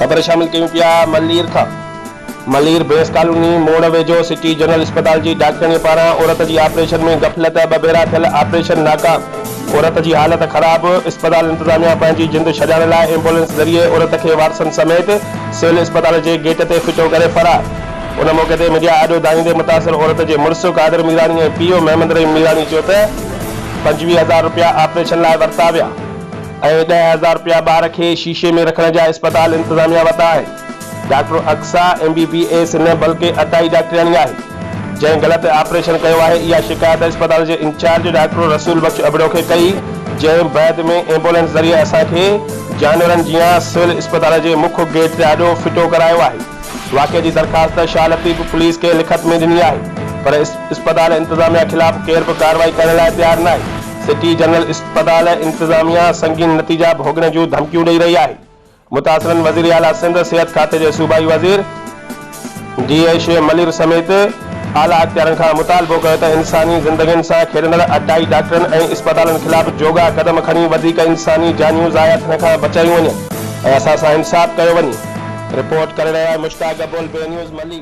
خبر شامل ڪيون پيا ملير کان ملير بيس ڪالوني موڙ ويجهو سٽي جنرل اسپتال جي ڊاڪٽرياڻي پاران عورت جي آپريشن ۾ غفلت ٻه ڀيرا ٿيل آپريشن ناڪام عورت جي حالت خراب، اسپتال انتظاميا پنهنجي جند ڇڏائڻ لاء ايمبولينس ذريعي عورت کي وارثن سميت سول اسپتال جي گيٽ تي ڦٽو ڪري فرار. ان موقعي تي ميڊيا آڏو دانهيندي متاثر عورت جي مڙس قادر ميراڻي ۽ پيء محمد رحيم ميراڻي چيو ته پنجويهه هزار رپيا آپريشن لاء ورتا ويا ۽ ڏهه هزار رپيا ٻار کي شيشي ۾ رکڻ جا اسپتال انتظاميا ورتا آهن. Doctor Aqsa M B B S نه بلڪه عطائي ڊاڪٽرياڻي آهي جنهن غلط آپريشن ڪيو آهي اها شڪايت اسپتال جي انچارج ڊاڪٽر رسول بخش ابڙو کي ڪئي جنهن بعد ۾ ايمبولينس ذريعي اسان کي جانورن جيان سول اسپتال جي مک گيٽ تي آڏو ڦٽو ڪرايو آهي واقعي جي درخواست شاهه لطيف پوليس کي لکت ۾ ڏني آهي پر اسپتال انتظاميا خلاف ڪير به ڪارروائي ڪرڻ لاء تيار ناهي سٽي جنرل اسپتال انتظاميا سنگين نتيجا ڀوڳڻ جون ڌمڪيون ڏئي رهي آهي متاثرن وزير اعليٰ سنڌ، صحت کاتي جي صوبائي وزير ڊي اي شعيب ملير سميت اعليٰ اختيارن کان مطالبو ڪيو ته انساني زندگين سان کيڏندڙ اٽائي ڊاڪٽرن ۽ اسپتالن خلاف جوڳا قدم کڻي وڌيڪ انساني جانيون ضايع ٿيڻ کان بچايون وڃن ۽ اسان سان انصاف ڪيو وڃي. رپورٽ ڪري رهيو آهي مشتاق گبول بي نيوز ملي.